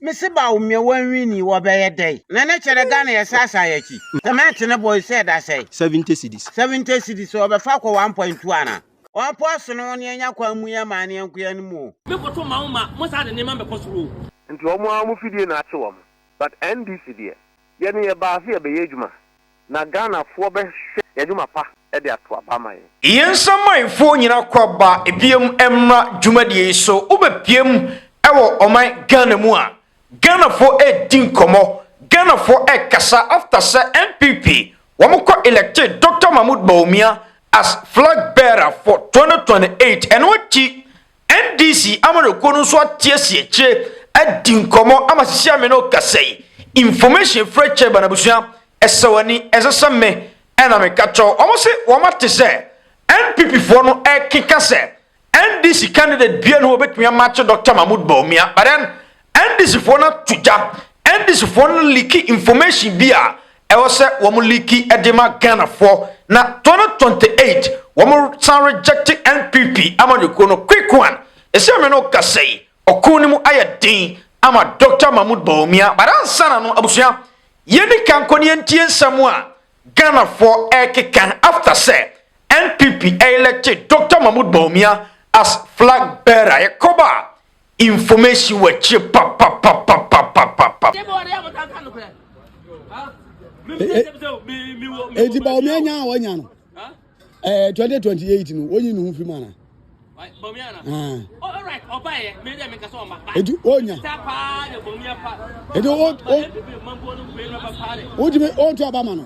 Mese ba wo mmea wa nwi ni wɔ bɛyɛ dɛn. Na ne kyɛrɛ Ghana yɛ sa asan yɛ kyi. Cement ne boy sɛ da sɛn. Seventy cedis. Seventy cedis ɔ bɛ fa kɔ one point two ana. Ɔ po ɔ sono wo ne anya kwan mu yɛ maa ne yɛnko yɛ no mu o. Me koto ma wo ma mo saa de nneɛma mmɛkɔ soro o. Nti ɔmo ara ɔmo fidie na akye ɔmo but NDC deɛ. Yɛne yɛbaa se yɛbɛyɛ adwuma Na Ghana foɔ bɛ hwɛ yɛ adwuma pa de ato aba ama yɛn. Yɛn nsamanfoɔ nyina kɔ aba biam mmra dwumadie yi so wo bɛ piam wɔ ɔman Ghana mu a Ghanafoɔ redi nkɔmɔ Ghanafoɔ rekasa after sɛ NPP wɔn kɔ electe Doctor Mahmoud Bawumia as flag bearer for 2028 ɛno akyi NDC amanyɔkuo no nso atiesie akyire adi nkɔmmɔ ama sisi ame no kasa yi information frɛ kyɛ ba n'abusua ɛsɛ w'ani ɛsɛ sɛ me ɛna meka kyɛw wɔn se wɔn ate sɛ NPP foɔ no ɛkeka sɛ NDC candidate bia ne wɔbɛtumi amakye Dr. Mahmoud Bawumia but then NDC foɔ no ato gya NDC foɔ no liki information bi a ɛwɔ sɛ wɔn liki de ma Ghana foɔ na 2028 wɔn san rejecte NPP amanyɔkuo no quick one ɛsɛ me no kasa yi ɔko no mu ayɛ den ama Doctor Mahmoud Bawumia but ansa na no abusua yɛni ka nkɔ ne yɛntie nsɛm a Ghana foɔ ɛkeka after sɛ NPP elected Doctor Mahmoud Bawumia as flag bearer yɛkɔba Information wɔ akyire papapapapapapa. Eti ba omi anya a wanya no. Eh 2028 no onyi ne ho fi mana. Alright, ọba yẹ, mi dẹ mi kasa ọma. Eti onya. Ta paa de bomi apa. Eti o o. O ti mi o ti ọba ma no.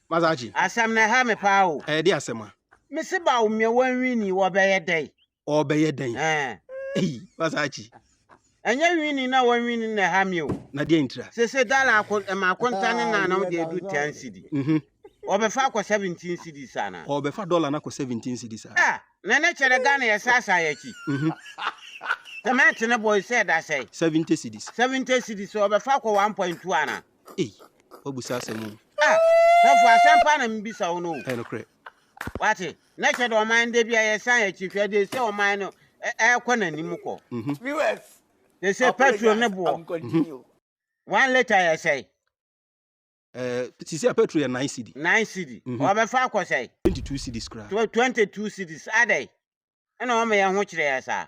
Mazachi. Asɛm no ɛha me paa o. Ɛyɛ de asɛm a. Me se Bawumia wanwini wɔ bɛyɛ dɛn. Ɔɔbɛyɛ dɛn. Ɛɛ. Ei Mazachi. Ɛnyɛ nwini na wanwini na ɛha me o. Na deɛn ntira. Sese dala ako ɛma akonta ne nan no de adu ten cedi. Mhm. Ɔbɛfa akɔ seventeen cedis anaa. Ɔɔbɛfa dɔla no akɔ seventeen cedis a. Ah na ne kyɛrɛ Ghana yɛ sa asan yɛ akyi. Mhm. Cement ne bɔ yi sɛ ɛda sɛn. Seventy cedis. Seventy cedis ɔɔbɛfa akɔ one point two anaa. Ei, woabisa asɛm o. Ah, sɔfo, asɛm pa na mebisa wo no o. Ɛyɛ nokorɛ. Wate, na ɛkyɛ dɛ ɔman da bi a yɛsan akyi hwɛ de sɛ ɔman no ɛrekɔ n'anim kɔ. Viewers, Te sɛ petrol ne boɔ. I'm continue. One litre yɛ sɛe? Ɛɛ, sisi a petrol yɛ nine cedi. Nine cedi. Ɔbɛfa akɔ sɛe? Twenty two cedis koraa. Tw twenty two cedis, adɛn na wɔma yɛn ho kyerɛ yɛn saa?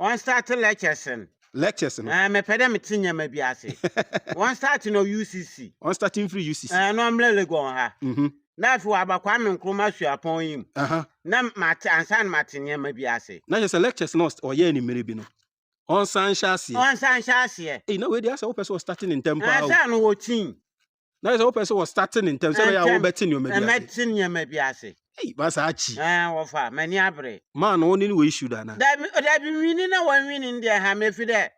wɔn start lectures no. lectures no. ɛɛ eh, mepɛ dɛ mete nneɛma bi ase wɔn start no ucc. wɔn start mfiri ucc. ɛɛ eh, na ɔmmerɛ legon ha. Mhm. na afei waba kwame nkrumah suapɔn yi mu. na mate ansa na mate nneɛma bi ase. na kyerɛ sɛ lectures no ɔyɛɛ ne mmerɛ bi no ɔnsan hyɛ aseɛ. ɔnsan hyɛ aseɛ. eyi na wei de asɛ wopɛ sɛ ɔstart ne ntɛm paa o. ansa na wɔkyin. na ayɛ sɛ wopɛ sɛ wɔstate no ntɛm sɛ ɛbɛyɛ a Ntɛm, wobɛte nneɛma bi ase ɛmɛte nneɛma bi ase. ei ba saa kyi Ɛn, wɔfa, m'ani abere. maa no wone ne wɔ issue da na Dabi, dabi, nwini na wɔnwini no deɛ ɛha me, ɛfiri dɛ,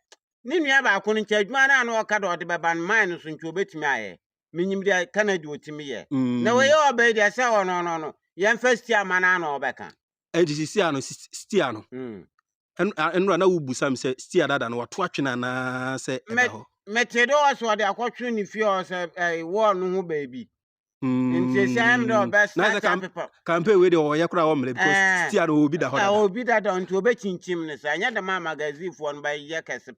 ne nua baako no nkyɛ adwuma no a na ɔka dɛ ɔde bɛba no, mine no so nti ɔbɛtumi ayɛ. Menyim deɛ Canada deɛ ɔtumi yɛ. Na mm. wɔyɛ ɔba yi deɛ, sɛ ɔno, ɔno, ɔno, yɛmfa Stia ma no a na ɔbɛka. ɛnti sisi a no sis- stia no Mm. Ɛnora na wobisa me sɛ stia dada no wato atwene anaa sɛ ɛda hɔ. Mete dɛ ɔsɛ ɔde akɔtwe ne fie hɔ sɛ ɛɛ wɔɔ no ho baabi. Nti esi ayɛ me dɛ ɔbɛ start apepa. Campaign wei de ɔyɛ koraa ɔmmerɛ because stia no obi da hɔ dada. Obi dada nti obɛkyinkyim ne saa. Ɛnyɛ dɛm a magazine foɔ no bɛyɛ kɛse.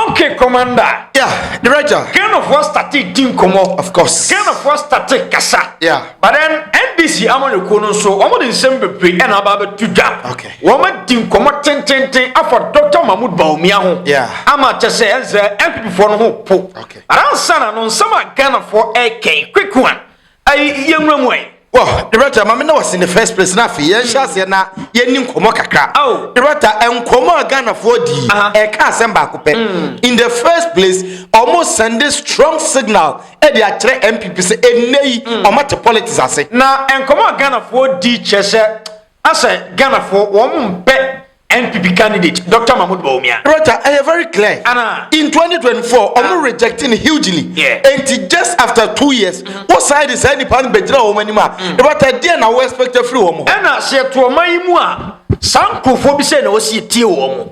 Okay, Commander. Yeah, Director. Ghanafoɔ started di nkɔmɔ. Of course. Ghanafoɔ started kasa. Yeah. But then NDC amanyɔkuo no nso wɔn de nsɛm bebree ɛna aba abɛto dwa. Okay. Wɔn adi nkɔmɔ tententen afa Dr. Mahmoud Bawumia ho. Yeah. Ama kyɛ sɛ ɛnsɛ NPP foɔ no ho po. Okay. But ansa na no nsɛm a Ghanafoɔ ɛrekɛn quick one. Ayi yɛ nwura mu ɛ. Wɔ Doretta ma me na wɔsi ne first place na afei yɛn hyɛ aseɛ na yɛn ni nkɔmɔ kakra. Oh. Doretta nkɔmɔ a Ghanafoɔ di ɛka eh, asɛm baako pɛ. Mm. In the first place ɔmo sɛnde strong signal ɛde eh, akyerɛ NPP sɛ ɛnɛ yi mm. ɔmo ate politics ase. Na nkɔmɔ a Ghanafoɔ di kyerɛ sɛ Asɛ Ghanafoɔ wɔn mpɛ NPP candidate Doctor Mahmood Bawumia. Roger ɛyɛ very clear Ana? in 2024 wɔn Ah. reject no hugely Yeah. enti just after two years wo san de saa nipa no bɛgyina wɔn anim a Roger ɛdeɛn na wo expect afiri wɔn hɔ. Ɛna sɛ yɛto ɔman yi mu a, saa nkurɔfoɔ bi sɛ na wɔsi yɛtie wɔn.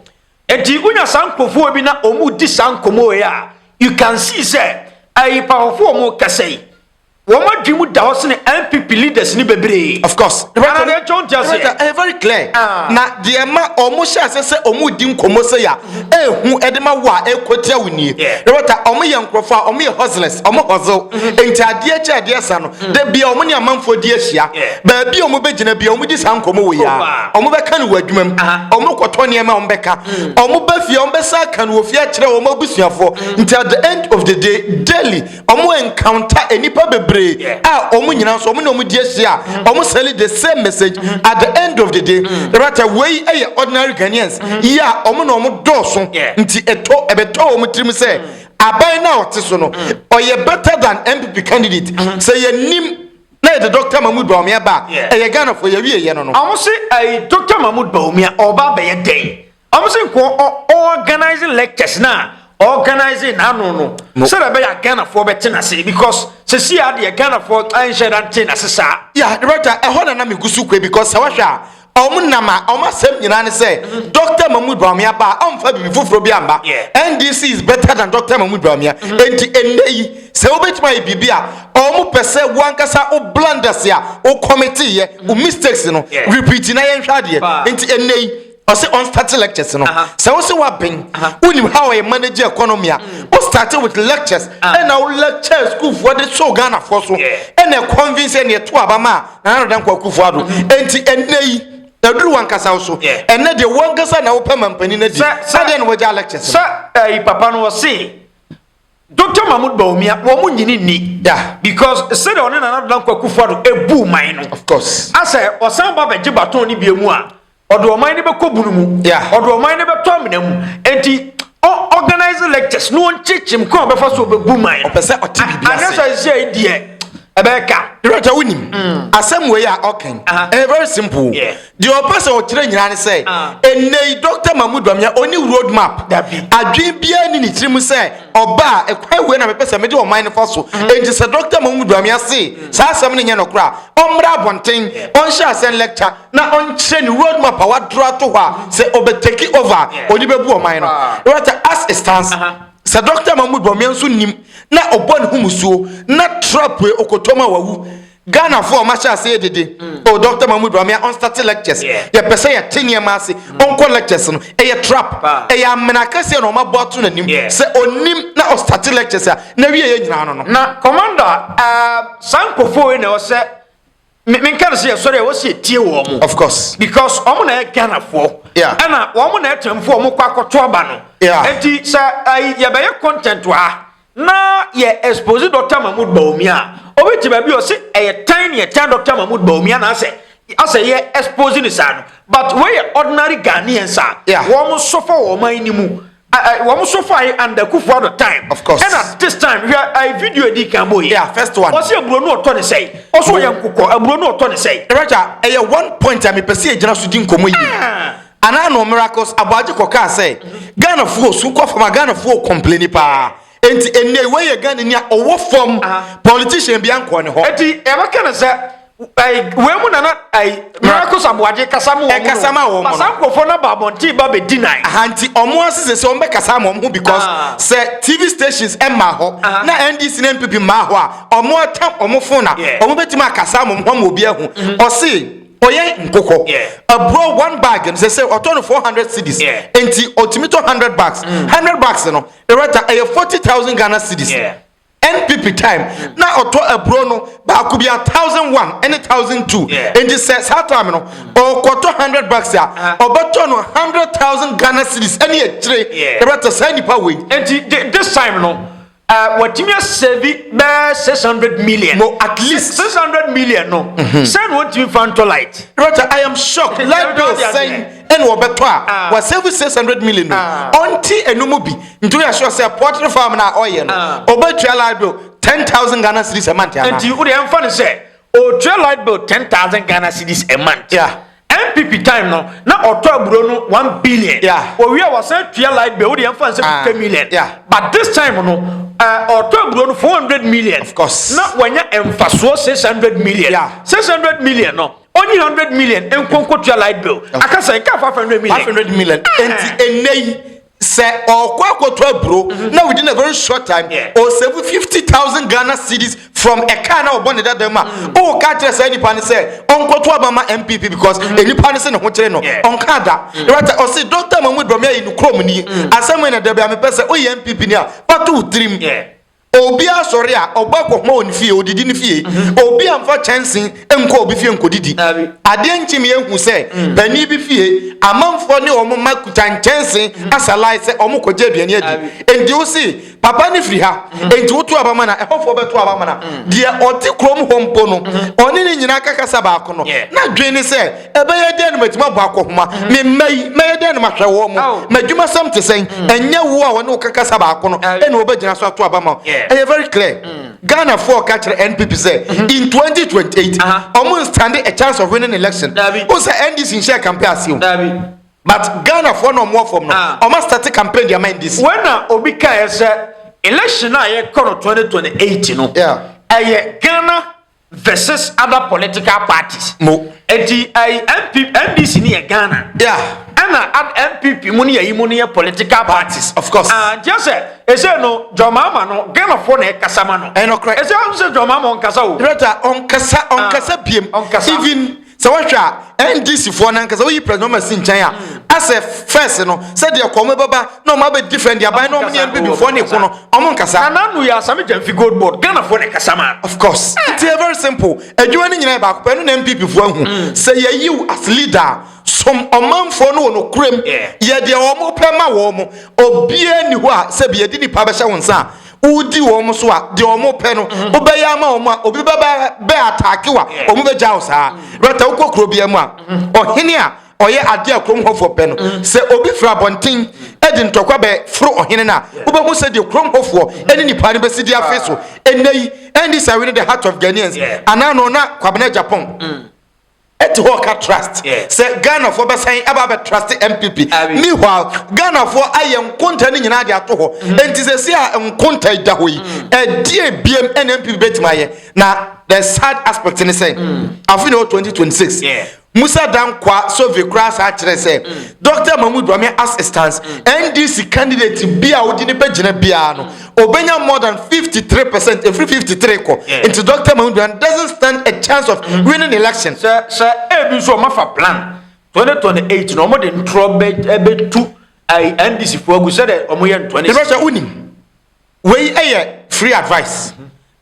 Enti wonya saa nkurɔfoɔ bi na wɔredi saa nkɔmmɔ wei a, you can see sɛ ɛyɛ pahɔfoɔ a wɔrekasa yi. wɔn adwene mu da hɔ sene npp leaders ni bebree. of course Ɛna deɛ ɛkyɛ wɔn ti ase. Director, ɛyɛ very clear Ah. na deɛ ɛma wɔn hyɛ ase sɛ wɔn redi nkɔmmɔ sɛ ya ehu ɛde ma wo a ɛkɔ tia wo nie Yeah. director wɔn yɛ nkorɔfoɔ a wɔn yɛ hustlers wɔn hustle nti adeɛ kyɛ adeɛ sa no da bia wɔn ne amanfoɔ di ahyia Yeah. baabi a wɔn bɛ gyina bia wɔn di saa nkɔmmɔ wɔ ya Opa. wɔn bɛ ka no wɔ adwuma mu Aha. wɔn kɔtɔ nneɛma wɔn bɛ ka wɔn bɛ fie wɔn bɛ sa ka no wɔ fie akyerɛ wɔn abusuafoɔ nti at the end of the day daily Ɔmo encounter enipa bebree a ɔmo nyina nso ɔmo na ɔmo di ehyia a ɔmo sɛli the same message at the end of the day rata wei ɛyɛ ordinary Ghanaians yi a ɔmo na ɔmo dɔɔso nti etɔ ɛbɛtɔ ɔmo tirim sɛ aban no a ɔte so no ɔyɛ better than NPP candidate sɛ yɛ nim na yɛde Doctor Mahmood Bawumia ba a ɛyɛ Ghanafoɔ yɛawie yɛ no no. Ɔmo se ɛɛ Doctor Mahmood Bawumia ɔɔba abɛyɛ dɛn? Ɔno se nko ɔ organise lectures na organise n'ano no no sɛdeɛ ɛbɛyɛ a Ghanafoɔ bɛte n'ase because sɛsi a deɛ Ghanafoɔ anhyɛ da nte n'ase saa. Yeah, director, ɛhɔ na na megu so kue because sɛ wohwɛ a ɔmo nam a ɔmo asɛm nyinaa ne sɛ mm-hmm. Dr. Mahmood Bawumia ba a ɔmfa biribi foforɔ bi amba. NDC is better than Dr. Mahmood Bawumia. Mm-hmm. Enti ɛnnɛ yi sɛ wobɛtumi ayɛ biribi a ɔmo pɛ sɛ woankasa wo blunders a wo kɔmete yɛ wo mm-hmm. mistakes no repeat na yɛnhwɛ adeɛ. Enti ɛnnɛ yi ɔsɛ on starting lectures no sɛ wo sɛ woaben wonim how yɛ manage economy a mm. wo started with lectures ah. ɛna wo lecture sukuufoɔ de soo ghanafoɔ so ɛna convince ɛne ɛto aba ma a nanadan kɔ akufoɔ ado mm-hmm. enti ɛnɛ yi ɛduru wankasa wo so ɛnɛ deɛ wankasa na wopɛ mampanin no adi sɛdeɛ na wagya lectures sɛ ɛyi papa no wɔse dr mahmud bawumia wɔn mu nyini ni da because sɛdeɛ ɔne nanadan kɔ akufoɔ ado ebu man no of course asɛ ɔsan ba bɛgye baton ne bi mu a Ɔde ɔman no bɛkɔ bunu mu. Yeah. Ɔde ɔman no bɛtɔ amena mu. Enti ɔ organize lectures na ɔnkyekyem kwan a ɔbɛfa so ɔbɛbu man. Ɔpɛ sɛ ɔte biribi ase. Anɛ sɛ ɛsɛ yi deɛ ɛbɛyɛ ka. Director wonim mm. asɛm wei a ɔkan ɛyɛ very simple. Deɛ ɔpɛ sɛ ɔkyerɛ nyinaa ne sɛ ɛnɛ yi Dr. Mahmoud Bamia ɔni road map. Adwene biara ni ne tirim sɛ ɔba a ɛkwan wei na mepɛ sɛ mede ɔman no fa so. Mm. Enti sɛ Dr. Mahmoud Bamia se saa asɛm no nyɛ nɔkorɔ a ɔmmra abɔnten ɔnhyɛ asɛn lecture na ɔnkyerɛ ne road map a wadoro ato hɔ a sɛ ɔbɛ take over a ɔde bɛbu ɔman no right as it stands sɛ dɔkta mahmood bɔmmea nso nim na ɔbɔ ne ho musuo na trap e ɔkɔtɔm a wawu Ghana fo ɔma hyɛ ase dede mm. o dɔkta mahmood bɔmmea ɔnstate lectures yɛpɛ sɛ yɛte nneɛma ase mm. ɔnkɔ lectures no ɛyɛ trap ɛyɛ amena akɛseɛ na ɔma bɔ ato n'anim sɛ ɔnim na ɔstate lectures a na wie yɛ nyinaa no no na commander uh, saa nkɔfoɔ yi na ɛwɔ sɛ me menka no sɛ yɛsɔre a wɔ sɛ yɛtie wɔ mo of course because wɔn na yɛ ghanafoɔ yeah. ɛna wɔn na ɛtɛmfoɔ wɔn kɔ akɔto aba no yeah. nti sɛ ayi yɛbɛyɛ content wɔ ha na yɛ expose dr mahmood baomi a obi te baabi ɔse ɛyɛ tan ne ɛtan dr mahmood baomi anaasɛ asɛ yɛ expose ne saa no but wɔyɛ ordinary ghanaians a yeah. wɔn nso fɔ wɔn man no mu I, I, wɔn so fa yi under kufu ado time. Of course. Ɛna this time hwɛ ayi video edi kan bɔ yi. Yeah first one. Ɔsi aburo no ɔtɔ ne sɛyi. Ɔso ɔyɛ nkokɔ aburo no ɔtɔ ne sɛyi. Ɛrɛkya ɛyɛ one point a mepɛ sɛ yɛgyina so di nkɔmɔ yi. Ah. Anaa no miracles aboagye kɔ kaa sɛ Ghana foɔ su kɔ fam a Ghana foɔ complaini paa. Enti ɛnɛ wei yɛ Ghana ni a ɔwɔ fam politician bi ankɔ ne hɔ. Eti ɛbɛka ne sɛ wei mu nana ayi miracles aboagye kasa mu wɔn kasa ma wɔn kasa nkurɔfoɔ na baabɔnten ba bɛ di nan. ahanti wɔn asese sɛ wɔn bɛ kasa ma wɔn ho because ah. sɛ tv stations ɛma hɔ ah. na ndc na npp ma hɔ a wɔn atam wɔn fon na wɔn bɛ tuma kasa ma wɔn ho ama obi ɛho mm-hmm. ɔsi ɔyɛ nkokɔ aburo one bag no sɛ sɛ ɔtɔ no four hundred cedis nti ɔtumi tɔ hundred bags mm. hundred bags no ɛrɛ ta ɛyɛ forty thousand ghana cedis. Yeah. NPP time mm. na ɔtɔ aburo no baako bi a thousand one ɛne thousand two nti sɛ saa time no mm. ɔkɔtɔ hundred bucks a ah. ɔbɛtɔ no hundred thousand Ghana cedis ɛne akyire ɛbɛtɔ saa nipa wei. nti this time no uh, wɔtumi asɛbi bɛɛ six hundred million. no at least six hundred million no. Mm-hmm. sɛ na wɔtumi fa ntɔ light. rɔta i am shocked light bill sɛn. ɛna wɔbɛtɔ a ah. wa save six hundred million no ah. ɔnti ɛnu mu bi nti o yɛ sure sɛ poultry farm na ɔyɛ no ɔbɛtua ah. light bill ten thousand ghana cedis a month ana. nti o de ɛnfa ne sɛ ɔtua light bill ten thousand ghana cedis a month. Yeah. npp time no na ɔtɔ aburo no one billion. Yeah. owie wɔsɛn tua light bill o de ɛnfa ne sɛ fifty million. Yeah. but this time no ɔtɔ eh, aburo no four hundred million. of course. na wɔnyɛ nfasoɔ six hundred million. Yeah. six hundred million no. Onyi hundred million nkɔ nkɔtua light bill. Aka sɛ nka five hundred million. Five hundred million. Nti ennɛ yi sɛ ɔkɔ akɔtɔ aburo na within a very short time ɔsave fifty thousand Ghana cedis from a car na ɔbɔ ne dada mu a, woka kyerɛ saa nipa no sɛ ɔnkɔto aba ma NPP because nipa no sɛ ne ho kyere no. Ɔnka da. Rata ɔse Doctor Mahmood Bawumia yɛ ne kurom ni. Asɛm wei na da biara mepɛ sɛ woyɛ NPP ni a, fa to wo tirim. Obi asɔre a, ɔbɔ akɔhoma wɔ ne fie, odidi ne fie. Obi amfa kyɛnse nkɔ obi fie nkodidi. Adeɛ nkye me ahu sɛ panin bi fie, amanfoɔ ne wɔn mma kuta nkyɛnse asa line sɛ wɔrekɔgye aduane adi. Enti wo se, Papa no firi ha, enti woto aba ma no a, ɛhɔfoɔ bɛto aba ama no a, deɛ ɔte kurom hɔ mpo no, ɔne ne nyinaa ka kasa baako no, n'adwene ne sɛ, ɛbɛyɛ dɛn na matumi abɔ akɔhoma me mma yi mɛyɛ dɛn na mahwɛ wɔn mu m'adwumasɛm te sɛn mm. ɛnyɛ wo a wɔne wo kakasa baako no ɛna wɔbɛgyina so ato aba ma ɛyɛ very clear mm. Ghana for ka kyerɛ NPP sɛ mm-hmm. in 2028 ɔmo nstande a chance of winning election o sɛ NDC nhyɛ campaign ase o but Ghana for na ɔmo fam no ah. ɔmo start campaign deɛ ama NDC. wɔn na obi ka yɛ sɛ election a yɛ kɔ no 2028 no ɛyɛ Ghana. versus other political parties. mo. eti ayi npp ndc ni yɛ ghana. yeah. ɛna ad npp mu ni yɛ yi mu ni yɛ political parties. of course. ah nti ɛsɛ ɛsɛ no jɔnmaama no ghana fo na ɛkasa ma no. ɛnɔkorɛ. ɛsɛ ɔn sɛ jɔnmaama ɔnkasa o. director ɔnkasa ɔnkasa biem. ɔnkasa even. sɛ wohwɛ a ndc foɔ no ankasa woyi president mahama si nkyɛn a asɛ fɛs no sɛ deɛ kɔn mu bɛba na ɔmo abɛdi fɛn deɛ aban na ɔmo ne npp foɔ ne ko no ɔmo nkasa na nanu yɛ asame gyamfi gold board ghana foɔ na ɛkasa ma of course eh. nti yɛ very simple adwuma no nyinaa yɛ baako pɛ ɛno na npp foɔ ahu mm. sɛ yɛyiw as leader som ɔmanfoɔ no wɔ no kurem yɛ deɛ ɔmo pɛ ma wɔ ɔmo obiara ni hɔ a sɛ bi yɛde nipa bɛhyɛ wɔn nsa a wodi wɔn so a deɛ wɔn pɛ no mm-hmm. wobɛyɛ ama wɔn a obi bɛbɛ bɛ ataake wa wɔn mm-hmm. bɛgya wo saa mm-hmm. rɛta wokɔ kuro bia mu a ɔhene a ɔyɛ adeɛ a kurom hɔfoɔ pɛ no sɛ obi firi abɔnten de ntɔkwa bɛ foro ɔhene no a wobɛhu sɛ deɛ kurom hɔfoɔ ne nipa no bɛsi di afe so ɛnɛ yi ɛndi sɛ wene the heart of ghanaians anaa no na kwabena japan mm. Ɛte hɔ ka trust sɛ Ghanafoɔ bɛsan aba abɛ trust NPP. Meanwhile, Ghanafoɔ ayɛ nkonta no nyinaa de ato hɔ. Mm. Enti sɛsi a nkonta da hɔ yi, mm. ɛdeɛ biem ɛna NPP bɛtumi ayɛ. Na the sad aspect ne sɛ, mm. afe na ɛwɔ 2026. Musa Dankwa Sove koraa saa kyerɛ sɛ Dr. Mahmoud Bawumia as stands NDC candidate bi a wodi ne bɛgyina biara no obenya more than 53 percent efiri 53 kɔ nti dr mahuduan doesn't stand a chance of mm-hmm. winning election. sɛ sɛ ebi nso ɔma fa plan 2028 na ɔmo de ntorɔ bɛ ɛbɛ tu ayi ndc fo agu sɛ dɛ ɔmo yɛ ntɔni. ìrọsẹ unim wei yɛ free advice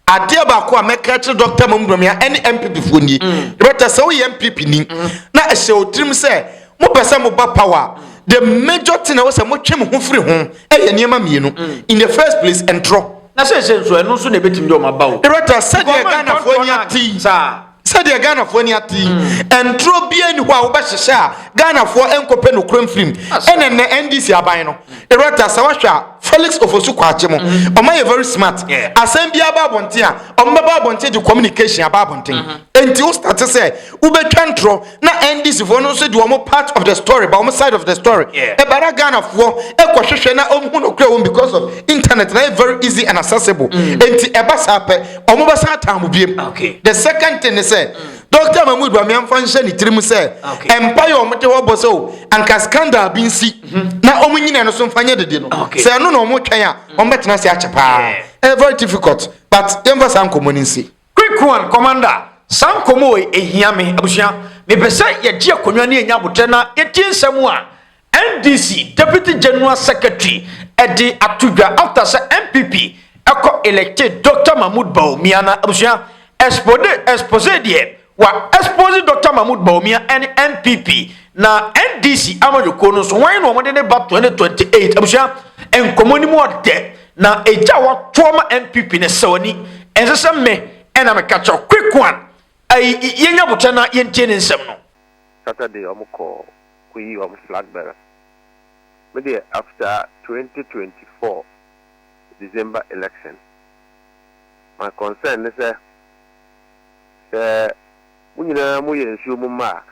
Adeɛ baako a mɛka akyerɛ Dɔkta Mamu Bawumia ɛne NPP foɔ nie. Dɔkta sɛ woyɛ NPP ni na ɛhyɛ wo tirim sɛ mopɛ sɛ moba power a, the major thing ɛwɔ sɛ motwe mo ho firi ho ɛyɛ nneɛma mmienu. In the first place, ntorɔ. Na seesei nso ɛno nso na ɛbɛtumi de wɔn aba o. Dɔkta sɛdeɛ Ghanafoɔ ani ate yi. Saa. Sɛdeɛ Ghanafoɔ ani ate yi, ntoro biara nni hɔ a wobɛhyehyɛ a Ghanafoɔ nkɔpɛ nokorɛ mfiri mu. Ɛna nnɛ NDC aban no, Erata, sɛ woahwɛ a, Felix Ofosu Kwakye mo, wɔayɛ very smart. Asɛm biara ba abɔnten a, wɔbɛba abɔnten de communication aba abɔnten. Enti wo starte sɛ wobɛtwa ntorɔ. na NDC foɔ no nso de wɔn part of the story ba wɔn side of the story yeah. ɛba na Ghana foɔ ɛkɔ hwehwɛ na wɔn hu no kura wɔn because of internet na yɛ very easy and accessible mm. nti ɛba saa pɛ wɔn bɛ san taa mo biem okay. the second thing is sɛ. Mm. Doctor Mahmoud Bamiamfa nhyɛ ne tirim sɛ mpa yɛ wɔn de hɔ bɔ sɛ o oh, anka scandal bi nsi mhm. na wɔn nyina no so nfa nyɛ dede no sɛ ɛno na wɔn twɛn a wɔn bɛtena ase akyɛ paa ɛyɛ very difficult but yɛn fa saa nkɔmɔ ne nsi. Quick one commander saa nkɔmmɔ wei ɛhia me abusua mepɛ sɛ yɛgye akonnwa ne yɛnya abotrɛ na yɛtie nsɛm a NDC deputy general secretary ɛde ato dwa after sɛ NPP ɛkɔ elected Dr Mahmood Bawumia na abusua expose expose deɛ wa expose Dr Mahmood Bawumia ɛne NPP na NDC amanyɔkuo no nso wɔn na wɔn de ne ba 2028 abusua nkɔmmɔ ne mu ɔdɛ Na agya a watoɔ ma NPP no sɛ w'ani ɛnsɛ sɛ me ɛna me ka kyɛw Kwekuan ɛyi yɛnya abotire na yɛntie ne nsɛm no. Saturday ɔmo kɔ kɔ yi ɔmo flag bearer me deɛ after twenty twenty four December election my concern ne sɛ sɛ mo nyinaa mo yɛ nsuo mo mma a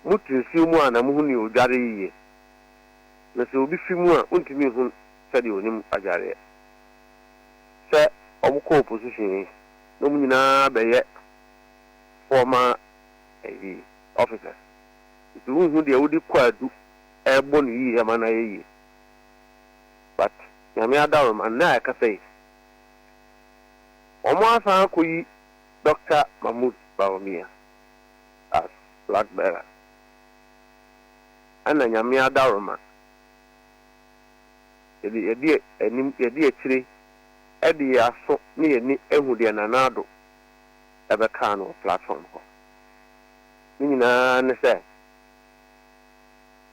mo tu nsuo mu a na mo hu nea odware yiye na sɛ obi fi mu a wontumi nhu sɛdeɛ ɔnim adwareɛ. Sɛ ɔmo kɔ opposition yi na ɔmo nyinaa bɛyɛ former ɛyi officers nti wonhu deɛ wode kwaadu ɛɛbɔ no yie ama no ayɛ yie but Nyame adaworoma nnɛ a ɛkasa yi ɔmo asan akɔyi Doctor Mahmood Bawumia as flag bearer ɛna Nyame adaworoma. Yɛde yɛn de anim, yɛn de akyire, ɛde yɛn aso ne yɛn ani ahu deɛ Nana Addo ɛbɛkaa no wɔ platform hɔ. Ne nyinaa ne sɛ,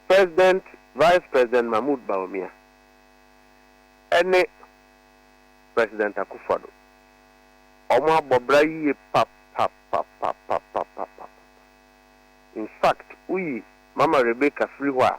President, Vice President Mahmoud Bawumia ɛne President Akuffo Addo, wɔn abɔ bra yie papapapapapapapapa. In fact, woyi Mama Rebecca firi hɔ a,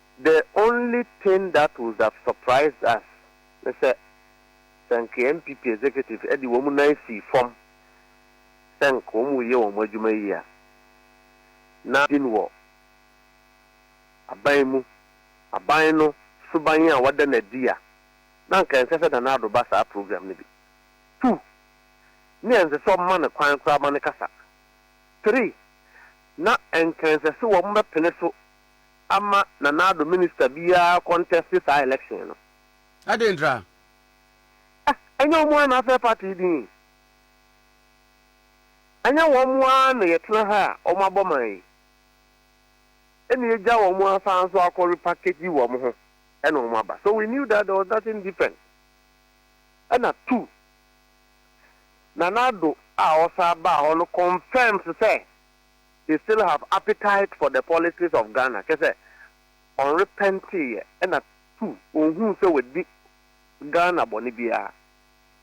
The only thing that would have surprised us ne sɛ sɛ nka NPP executives de wɔn nan sii fam sɛ nka wɔn reyɛ wɔn adwuma yie a, na din wɔ aban mu, aban no suban a wɔada no adi a, na anka ɛnsɛ sɛ Nana Addo ba saa program no bi. Two, na ɛnsɛ sɛ wɔma no kwan koraa ma no kasa. Three, na ɛnka ɛnsɛ sɛ wɔbɛpene so ama Nana Addo minister biara contest saa election no. Adɛn ntra? Ah, ɛnyɛ wɔn ara na afrɛ party din yi? Ɛnyɛ wɔn ara na yɛtena ha a wɔabɔ man yi? Ɛna yɛgya wɔn asan nso akɔ repackage wɔn ho ɛna wɔn aba. So we knew that there was nothing different. Ɛna two, Nana Addo a ɔsan baa hɔ no confirms sɛ, they still have appetite for the politics of Ghana kyerɛ sɛ ɔnrepɛnteeɛ ɛna two ɔnhuu sɛ wadi Ghana bɔne biara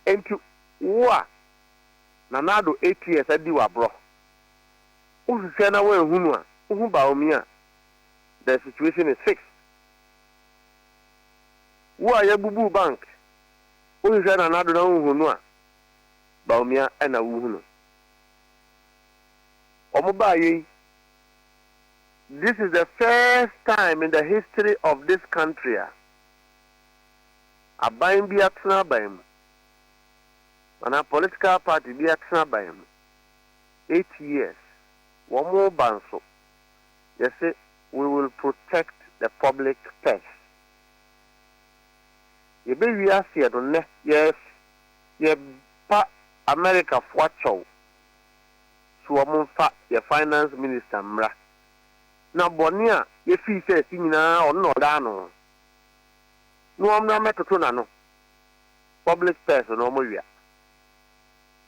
ɛnti wo a Nana Addo eight years adi wo aborɔ wohwehwɛ na woanhunu a wohu Bawumia a the situation is fixed wo a yɛbubuu bank wohwehwɛ Nana Addo na wonhunu a Bawumia ɛna wohunu. wɔn baeɛ yi, this is the first time in the history of this country a aban bi atena aban mu anaa political party bi atena aban mu eight years, wɔn reba nso, yɛse we will protect the public purse. Yɛbɛwie aseɛ no nnɛ, yɛs, yɛba Americafoɔ akyɛw so wɔn mfa yɛ finance minister mmra na bɔne a yɛfii sɛ asi nyinaa ɔno na ɔdaa ano na wɔmmra mmɛtoto n'ano public spares no wɔn wia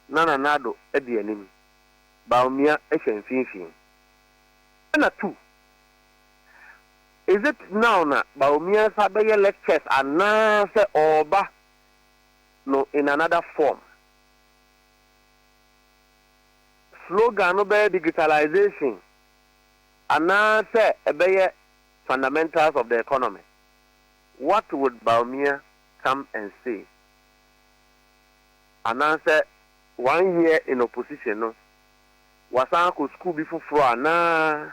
na Nana Addo di anim Bawumia hyɛ mfimfini ɛna tu Is it now na Bawumia sa bɛyɛ lectures anaa sɛ ɔreba no in another form? slogan no bɛyɛ Digitalization anaasɛ ɛbɛyɛ Fundamentals of the Economy, what would Bawumia come and say? Anaasɛ one year in opposition no, wasan akɔ sukuu bi foforɔ anaa?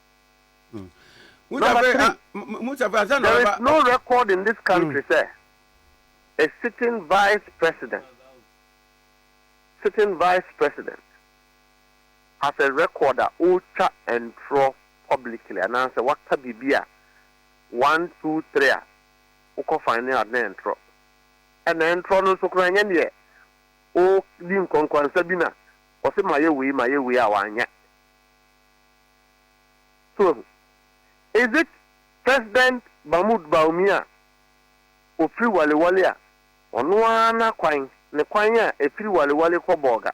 Hmm. Number three, ah, there is no record in this hmm. country, sir. A sitting vice president, sitting vice president has a record that ultra and pro publicly and answer what kabibia one, two, three, ah, uko finding at the intro. And the intro no so crying in the o din konkonsa bi na ɔse ma yɛ wei ma yɛ wei a wanyɛ So ahu? Is it President Mahmoud Baoumi a ɔfiri Waliwali a ɔno ara n'akwan, ne kwan a ɛfiri Waliwali kɔ Bolga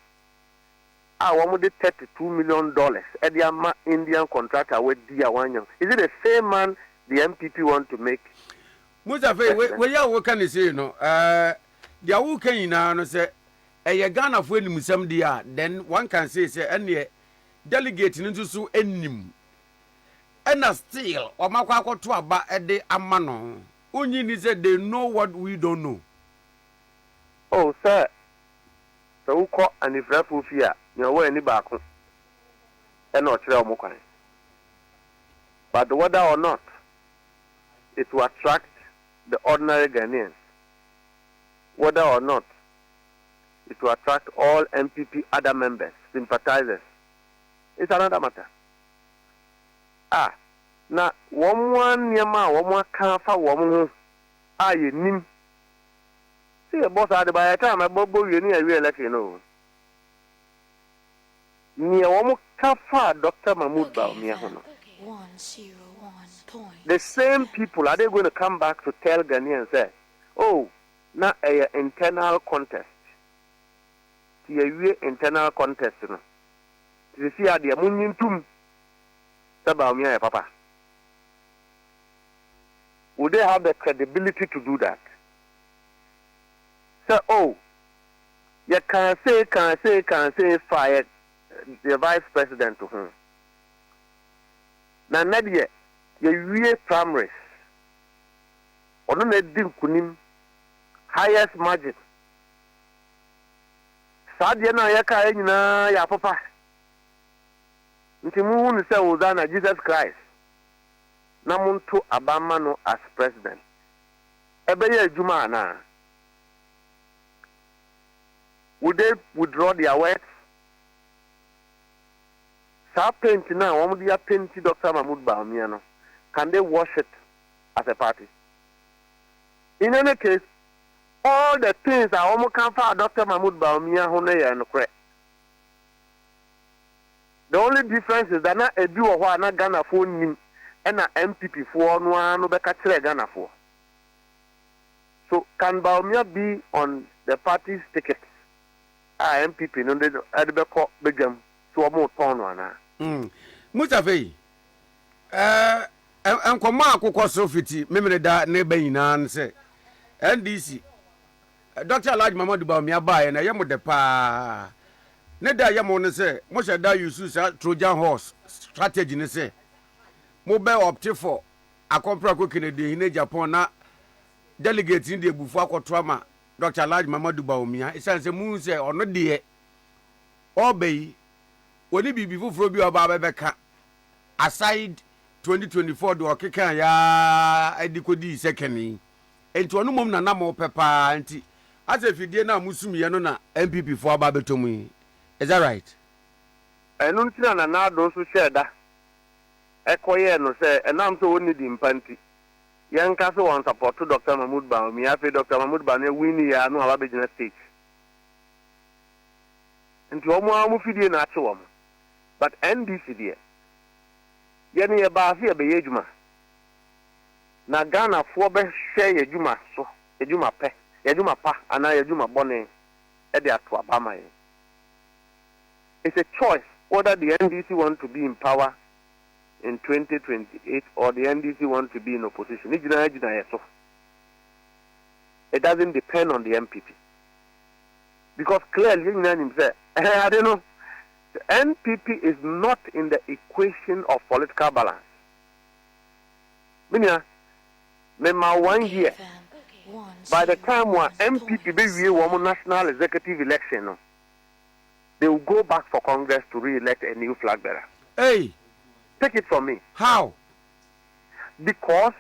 a wɔde thirty two million dollars de ama Indian contractor a wadi a wannya ho? Is it the same man the NPP want to make Musa Fei, wei, President? wei a woka ne sei no, eh, deɛ woka nyinaa no sɛ ɛyɛ Ghanafoɔ animsɛm deɛ a, then one can say sɛ ɛneɛ Delegate no nso so nnim ɛna still wɔn akɔ akɔto aba de ama no. Wonye nni sɛ they know what we don't know. Oh sɛ sɛ wokɔ anifirafoɔ fie a nea ɔwɔ ani baako na ɔkyerɛ wɔn kwan but whether or not it will attract the ordinary Ghanaians whether or not is to attract all NPP other members, sympathizers is another matter. Ah, na wɔn ara nneɛma a wɔn aka afa wɔn ho a yɛnnim. Sɛ yɛbɔ saa de by the time ɛbɔ bɔ wie ne yɛawie election no o. Neɛ wɔn ka faa Doctor Mahmood Bawumia ho no, the same people are they going to come back to tell Ghanaians sɛ oh, Na ɛyɛ internal contest nti yɛwie internal contest no nti seesei adeɛ monnye ntom sɛ Bawumia yɛ papa would they have the credibility to do that sɛ oh yɛkaa sei kaa sei kaa sei faa yɛ yɛ vice president ho na nnɛ deɛ yɛwie primaries Ɔno na adi nkunim, highest margin. Saa adeɛ no a yɛkaeɛ nyinaa yɛ apopa. Nti monhu no sɛ Hosanna, Jesus Christ, na monto aba mma no as President. Ɛbɛyɛ adwuma anaa? Will they withdraw their words? Saa paint no a wɔde apenti Doctor Mahmood Bawumia no, can they wash it? as a party. In any case, all the things a wɔn ka faa Doctor Mahmoud Bawumia ho no yɛ nokorɛ. The only difference is that na ebi wɔ hɔ a na Ghanafoɔ nnim ɛna NPP foɔ no ara no bɛka kyerɛɛ Ghanafoɔ. So can Bawumia be on the party's ticket a NPP no de no ɛde bɛkɔ badwam so wɔn retɔn no anaa? Mustafa yi. Ɛɛ, nkɔmmɔ a akokɔ so fiti Memeneda ne ba nyinaa ne sɛ, NDC, Dɔkta Alhaji Muhammadu Bawumia baeɛ no ɛyɛ mo dɛ paa. Ne dɛ a ɛyɛ mo ne sɛ, mohyɛ da use saa Trojan horse strategy no sɛ, mobɛ opte for Akɔmprako Kennedy Hene Agyapong na delegates no de abufuo akɔto ama Dɔkta Alhaji Muhammadu Bawumia esiane sɛ mohu sɛ ɔno deɛ ɔreba yi, ɔnni biribi foforɔ bi a ɔba abɛbɛka aside twenty twenty four deɛ ɔkekaa yɛ ara de kɔdii sɛ kɛne yi nti ɔno mmom na na mopɛ pa ara nti asɛ fidie no a mosumiiɛ no na NPP foɔ aba abɛtɔ mu yi is that right? Ɛno nti na Nana Addo nso hyɛɛ da kɔyɛɛ no sɛ ɛnam sɛ ɔnni din pa nti yɛnka sɛ wɔnsapɔto Doctor Mahmood Bawumia afei Doctor Mahmood Bawumia winnie a na waba abɛgyina stage nti wɔn ara wɔn fidie na akye wɔn. but NDC deɛ yɛne yɛbaa sɛ yɛbɛyɛ adwuma na Ghanafoɔ bɛhwɛ yɛadwuma so, yɛadwuma pɛ, yɛadwuma pa anaa yɛadwuma bɔne de ato aba ama yɛn. It's a choice whether the NDC want to be in power in 2028 or the NDC want to be in opposition, ne gyinaa gyina yɛ so, it doesn't depend on the NPP. because clearly yɛn nyinaa nim sɛ ɛhɛn ade no sɛ NPP is not in the equation of political balance me nua me ma one year by the time a NPP bɛ wie wɔn national executive election no they will go back for congress to re-elect a new flag bearer. Hey. Take it from me. How? Because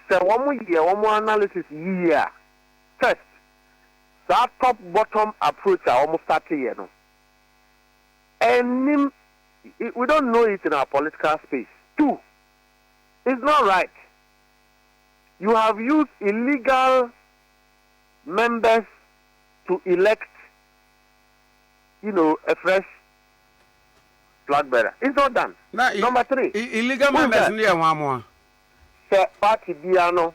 sɛ wɔn yɛ wɔn analysis yie a. First, saa top bottom approach a wɔn starte yɛ no, ɛnnim, we don't know it in our political space. Two, it's not right, you have used illegal members to elect you know, a fresh flag bearer. It's not done. Na, Number three, illegal members no yɛ wɔn amoa. Sɛ party biara no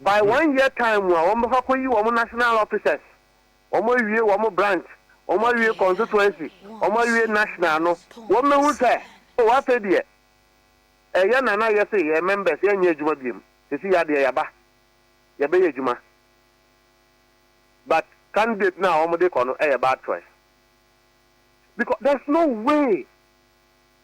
By one year time mu a wɔn bɛfa kɔyi wɔn national officers, wɔn awie wɔn branch, wɔn awie constituency, wɔn awie national no, wɔn bɛhu sɛ oh afei deɛ ɛyɛ na na yɛse yɛn members yɛnyɛ adwuma biom, sesi ya deɛ yɛaba yɛbɛyɛ adwuma but candidate no a wɔn de kɔ no ɛyɛ bad choice because there's no way.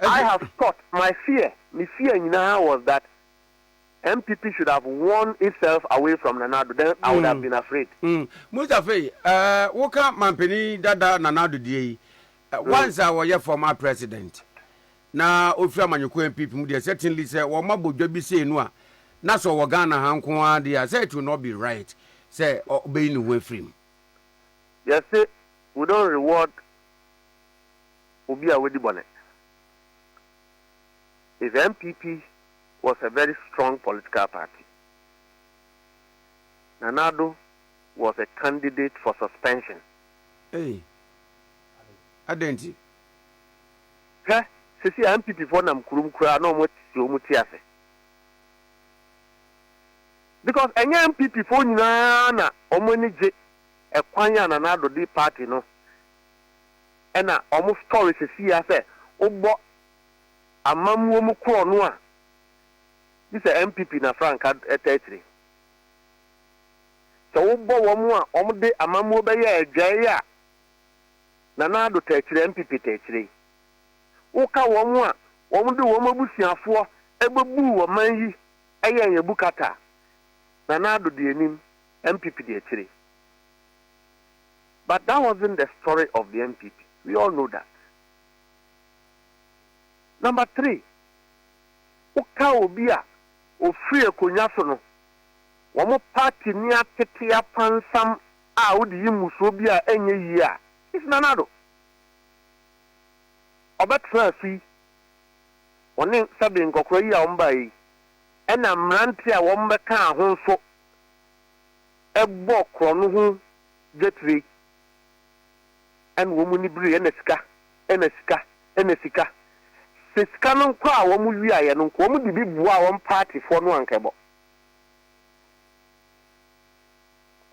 I have thought, my fear, me fear nyinaa was that NPP should have won itself away from Nana Addo, then I would have been afraid. Mustafa yi, woka mampanin dada Nana Addo deɛ yi, once a wɔyɛ former president, na ofiri amanyɔkuo NPP mu deɛ, certainly sɛ wɔn abɔ dwa bi sei no a, na sɛ ɔwɔ Ghana ha nko ara deɛ a, sɛ it will not be right sɛ ɔbɛyi ne ho afiri mu. Yɛse, we don't reward obi a wadi bɔne. If NPP was a very strong political party, Nana Addo was a candidate for suspension. Ei! Adɛn nti? Hwɛ, seesei a NPP foɔ nam kurom koraa na wɔn asi wɔn ti ase. Because ɛnyɛ NPP foɔ nyinaa na wɔn ani gye ɛkwan a Nana Addo de party no na ɔmo story sesii a sɛ wobɔ amammuo mu korɔ no a gye sɛ NPP na franka ɛta akyire. Sɛ wobɔ wɔn a wɔn de amammuo bɛyɛ adwae a Nana Addo ta akyire, NPP ta akyire yi. Woka wɔn a wɔn de wɔn abusuafoɔ bɛbuu ɔman yi yɛɛ yɛn bukata a Nana Addo di anim, NPP di akyire. But that wasn't the story of the NPP we all know that. Number three, wo ka obi a ofiri akonwa so no, wɔn party ni atete apansam a wode yi mmusuo bi a ɛnyɛ yie a, it's Nana Addo. Ɔbɛtenaa so yi, ɔne sɛbe nkɔkora yi a wɔn baeɛ yi, ɛna mmeranteɛ a wɔn bɛkaa ho nso bɔɔ korɔno ho dwetire na wɔn ani bereɛ na sika na sika na sika. Sɛ sika no nko a wɔn wiaeɛ no nko wɔn de bi boaa wɔn paatifoɔ no anka ɛbɔ.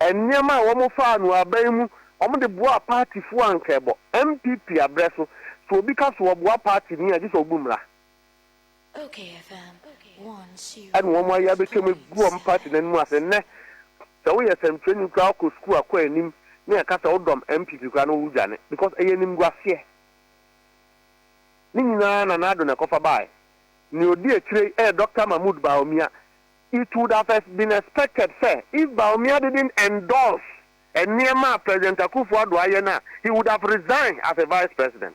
Nneɛma a wɔn faa no aban mu wɔn de boaa paatifoɔ anka ɛbɔ. NPP abrɛ so, sɛ obi ka so ɔboa paati ni a gye sɛ ɔbu mmra. Ɛna wɔn ayɛ abɛtwam agu wɔn party no anim ase. Nnɛ, sɛ woyɛ sɛnkyerɛni koraa a wokɔ sukuu a kɔ anim ne ɛka sɛ wodɔm NPP koraa no wodwane because ɛyɛ animguaseɛ. Ne nyinaa Nana Addo na ɛkɔfa baaɛ. Nea ɔdi akyire yi yɛ Doctor Mahmood Bawumia. It would have been expected sɛ if Bawumia didn't endorse nneɛma a President Akuffo Addo ayɛ no a, he would have resigned as a Vice President.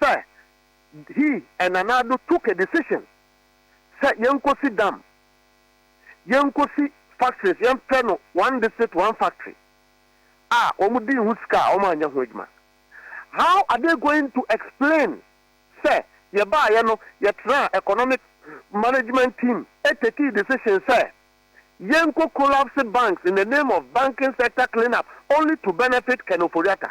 sɛ he and Nana Addo took a decision sɛ yɛnkɔsi dam, yɛnkɔsi factories, yɛmfrɛ no one district one factory a wɔdii ho sika a wɔanyɛ ho adwuma. How are they going to explain sɛ yɛbaeɛ no yɛtraa economic management team takee decision sɛ yɛnkɔ collapse banks in the name of banking sector clean up only to benefit Ken Ofori-Atta?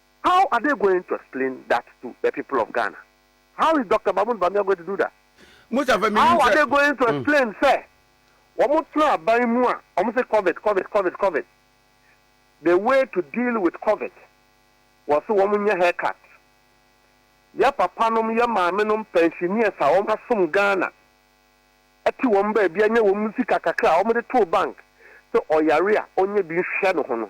How are they going to explain that to the people of Ghana? How is Doctor Mahmoud Bamia going to do that? Mustafa menim sɛ. How are they going to explain sɛ wɔn tena aban mu a wɔn se covid covid covid covid the way to deal with covid wɔ se wɔn nyɛ hair cut yɛ papa nom yɛ maame nom pensioners a wɔn asom Ghana ɛte wɔn baabi a nyɛ wɔn sika kakra a wɔn de too bank sɛ ɔyare a ɔnyɛ bi nhwɛ ne ho no.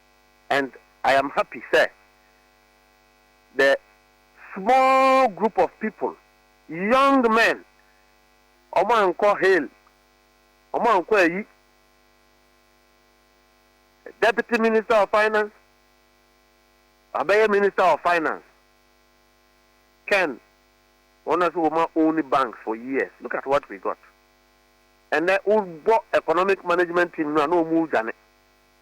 and I am happy sɛ the small group of people, young men, ɔmo ankɔ Hail, ɔmo ankɔ ayi Deputy Minister of Finance, wabɛyɛ Minister of Finance, Ken, wɔn na sɛ wɔma own banks for years, look at what we got. Ɛnɛ wobɔ economic management team no a na ɔmo redwane.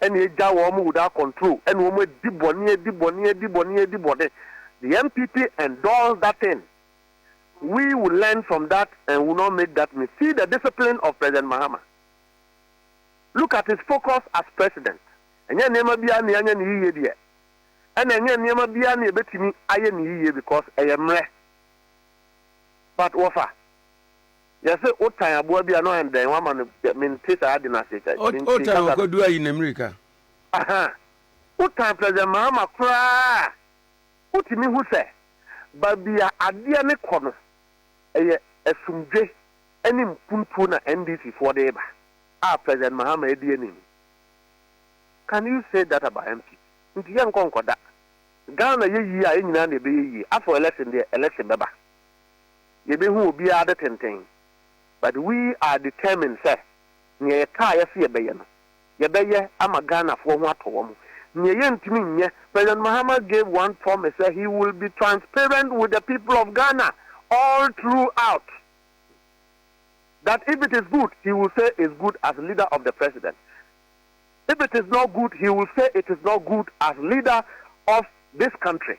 ɛne agya wɔn would a control ɛne wɔn adi bɔne adi bɔne adi bɔne adi bɔne the NPP endorse that thing we will learn from that and will not make that me see the discipline of President Mahama look at his focus as president ɛnyɛ nneɛma biara ne anya ne yiye deɛ ɛna ɛnyɛ nneɛma biara ne ɛbɛtumi ayɛ ne yiye because ɛyɛ mmerɛ but wɔfa Yɛse wo tan aboa bi a na ɔyɛ no dɛn wama no dɛ mente saa ade no ase kyɛ mente kasa no. Wo tan ɔkɔdu ayi na mirika. Ahaa wo tan President Mahama koraa a wotumi hu sɛ baabi a adeɛ no kɔ no ɛyɛ asumdwe ɛne mpuntuo na NDC foɔ de reba a President Mahama adi anim can you say that about MP nti yɛnkɔ nkɔda Ghana yɛ yie a yɛn nyinaa na ɛbɛyɛ yie afɔ election deɛ election bɛba. yɛbɛhu obiara de tenten but we are determined sɛ neɛ yɛkaeɛ sɛ yɛbɛyɛ no yɛbɛyɛ ama Ghanafoɔ ho atɔ wɔn. Neɛ yɛntumi nyɛ, President Mahama gave one promise sɛ he will be transparent with the people of Ghana all through out that if it is good he will say is good as leader of the president if it is not good he will say it is not good as leader of this country.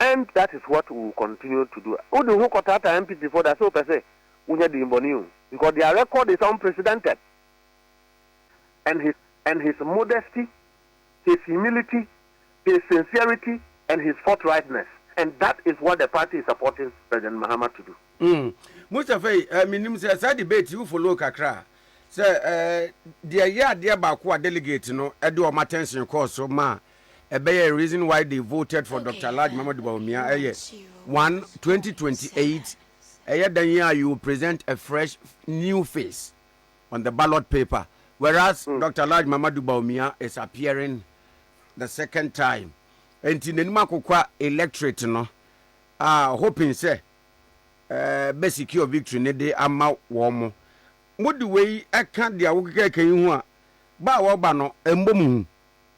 and that is what we will continue to do. Wo de wo ho kɔtaataa NPP foɔ da sɛ wopɛ sɛ wonya din bɔne o because their record is unprecedented and his and his modesty, his humility, his sincerity and his forthrightness and that is what the party is supporting President Mahama to do. Mm. Mustafa yi, eh, menim sɛ saa debate yi wo follow kakra a, sɛ eh, deɛ ɛyɛ adeɛ baako a delegate no de wɔn attention kɔɔ so ma ɛbɛyɛ Reason Why They Voted for Doctor Alhaji Muhammadu Bawumia ɛyɛ 1, 2028 Ɛyɛ dɛn yi a you will present a fresh new face on the ballot paper whereas mm. Doctor Alhaji Muhammadu Bawumia is appearing the second time nti n'anim akokwa electorate no uh, hoping sɛ uh, eh, bɛ secure victory ne de ama wɔn mo mode wei ɛka deɛ wokekɛkɛ yi ho a ba a wɔba no ɛmbɔ mu hu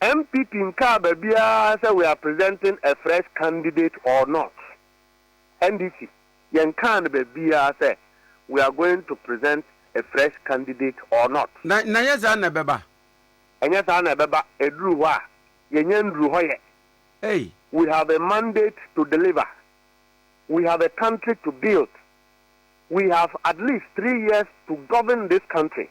NPP nkaa baabiara sɛ we are presenting a fresh candidate or not. NDC, yɛnkaa no baabiara sɛ we are going to present a fresh candidate or not. Na ɛnyɛ saa na ɛbɛba. Ɛnyɛ saa na ɛbɛba. Ɛduru hɔ a, yɛnya nnuru hɔ yɛ. Ei! We have a mandate to deliver. We have a country to build. We have at least three years to govern this country.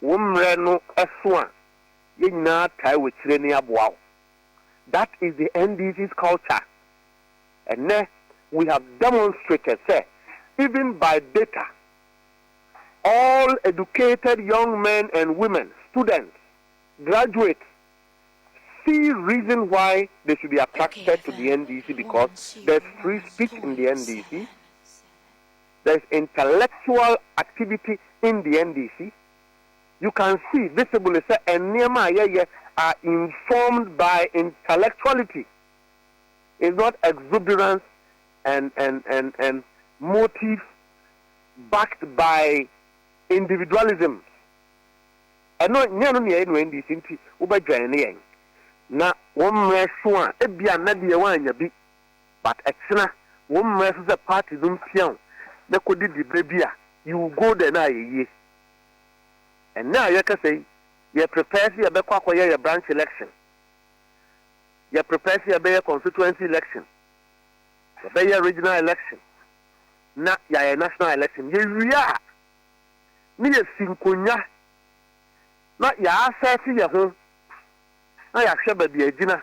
Wo mmerɛ no so a, yɛn nyinaa tae wɔ akyire ne aboa wo. That is the NDC's culture. Ɛnnɛ we have demonstrated sɛ even by data, all educated young men and women, students, graduates see reason why they should be attracted to the NDC because there's free speech in the NDC. there is intellectual activity in the NDC, you can see visibly sɛ nneɛma a yɛyɛ are informed by intellectuality, is not exuberance and and and and motive backed by individualism. Ɛno nyɛ no nea ɛnu NDC nti wobɛdwɛn ne yɛn na wɔn mmerɛ so a ebia na deɛ wɔanya bi. but ɛkyena wɔn mmerɛ so sɛ party no mpia wo na kɔ di dibere bi a you will go there na ayɛ yie. Ɛnnɛ a yɛrekasa yi yɛ prepare sɛ yɛbɛkɔ akɔyɛ yɛ branch election, yɛ prepare sɛ yɛbɛyɛ constituency election, yɛbɛyɛ regional election na yɛayɛ national election. Yɛwie a na yɛsi nkonwa na yɛaasɛte yɛ ho na yɛahwɛ baabi a yɛgyina.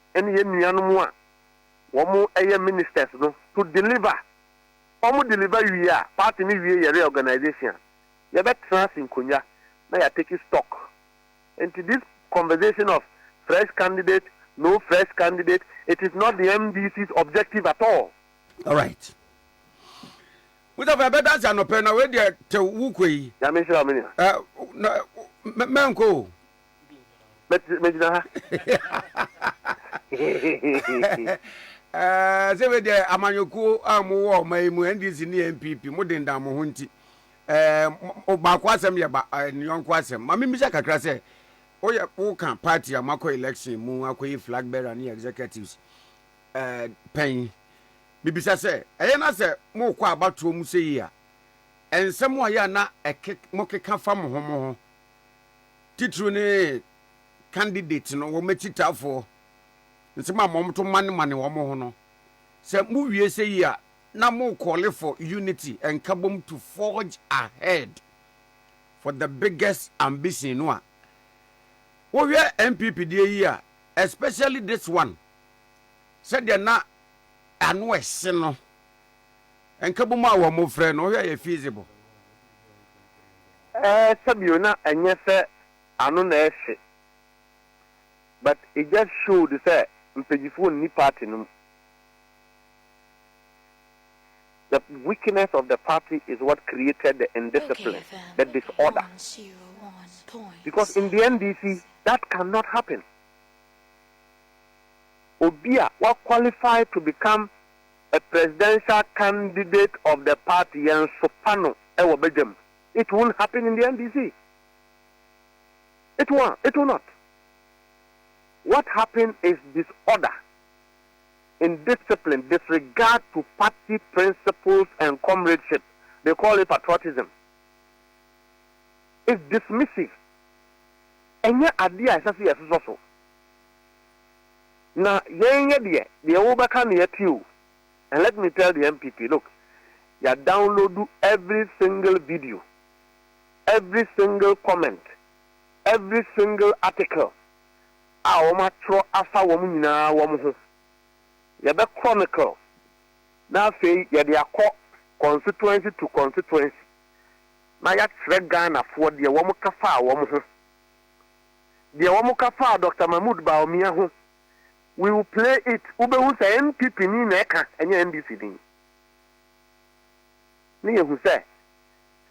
ɛne yɛn nuanom a wɔn yɛ ministers no to deliver, wɔn deliver wie a party no wie yɛ reorganization a yɛbɛ tena ase nkonwa na yɛ ateki stock nti this conversation of fresh candidate no fresh candidate it is not the MDC's objective at all. Alright. Mustapha ɛbɛ dansi anɔpɛ na wei deɛ tew wukɔ yi. Nyame nhyira wo me nua. Ɛ na mɛnkɔ o. mɛgyina ha eh, sɛ bɛ deɛ amanyɔkuo a mowɔ ɔma yi mu ndc ne npp mo dendan mo ho nti eh, baako asɛm yɛ eh, ne yɔnko asɛm ma membisa kakra sɛ woyɛ woka party a moakɔ election mu akɔyi flag bearer ne executives pɛn mebisa sɛ ɛyɛ na sɛ mokɔ abatoɔ mu sɛ yi a ɛnsɛm a yɛ a na mokeka fa mo ho mo ho titiriw ne candidates no wɔn akyitafoɔ nsɛm a wɔto manemane wɔn ho no, sɛ mowie sɛ yi a, na mo call for unity and kabom to forge ahead for the biggest ambition no a, wohwɛ NPP deɛ yi a, especially this one, sɛdeɛ na ano ɛhye no, nkabom a wɔfrɛ no, wohwɛ a ɛyɛ feasible? Eh, sɛ bio na ɛnyɛ sɛ ano na ɛhye but it just showed sɛ mpagyifoɔ nni party no mu. The weakness of the party is what created the indiscipline, the disorder because in the NDC that can not happen. Obi a wa qualify to become a presidential candidate of the party yɛnsopa no wɔ badwam it won't happen in the NDC it won it will not what happen is disorder indiscipline disregard to party principles and comradeship they call it patriotism is dismissive ɛnyɛ adeɛ a ɛsɛ sɛ yɛsosɔ so. Na yɛn yɛ deɛ deɛ wo bɛka no yɛ te o and let me tell the NPP look ya downloadu every single video every single comment every single article a wɔn atwerɛ afa wɔn nyinaa wɔn ho yɛ bɛ chronicle na afei yɛ de akɔ constituency to constituency na ya kyerɛ Ghanafoɔ deɛ wɔn ka faa wɔn ho deɛ wɔn ka faa Doctor Mahmood Bawumia ho, we will play it, wobɛhu sɛ NPP ni na ɛka ɛnyɛ NDC ni. Ne yɛhu sɛ,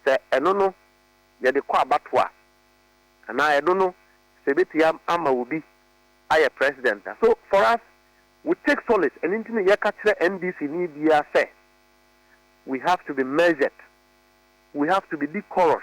sɛ ɛno no yɛde kɔ abatoɔ a, anaa ɛno no sɛ ɛbɛtumi ama obi ayɛ President a, so for us we take solace, ɛno nti na yɛka kyerɛ NDC ni biara sɛ, we have to be measured, we have to be decorous.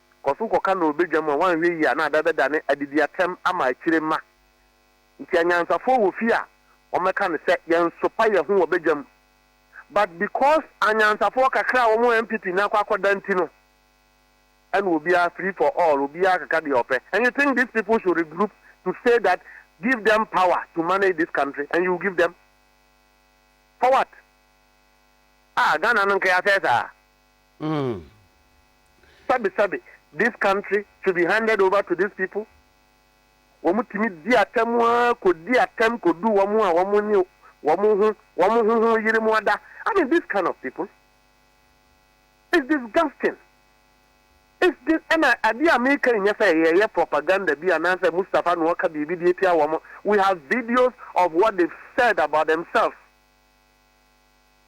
kɔ so kɔka no wɔ badwa mu a, woanhwɛ yie a na ada bɛdane adediatɛm ama akyire mma. Nti anyansafoɔ wɔ fie a wɔmɛka no sɛ yɛnsopa yɛn ho wɔ badwa mu but because anyansafoɔ kakra a wɔn wɔ NPP no akɔ akɔda nti no ɛna obiara free for all obiara keka deɛ ɔpɛ and you think these people should regroup to say that give them power to manage this country and you give them for what? Ah Ghana no nka yɛasɛe saa? Sabi sabi this country should be handed over to these people wɔn tumi di atɛm ara kɔ di atɛm kɔ du wɔn a wɔn nye wɔn ho wɔn ho ho yere mu ada I mean this kind of people is disgusting is this ɛna adeɛ a meka yi nyɛ sɛ yɛyɛ propaganda bi anaasɛ Mustafa na ɔka biribi de atia wɔn we have videos of what they've said about themselves.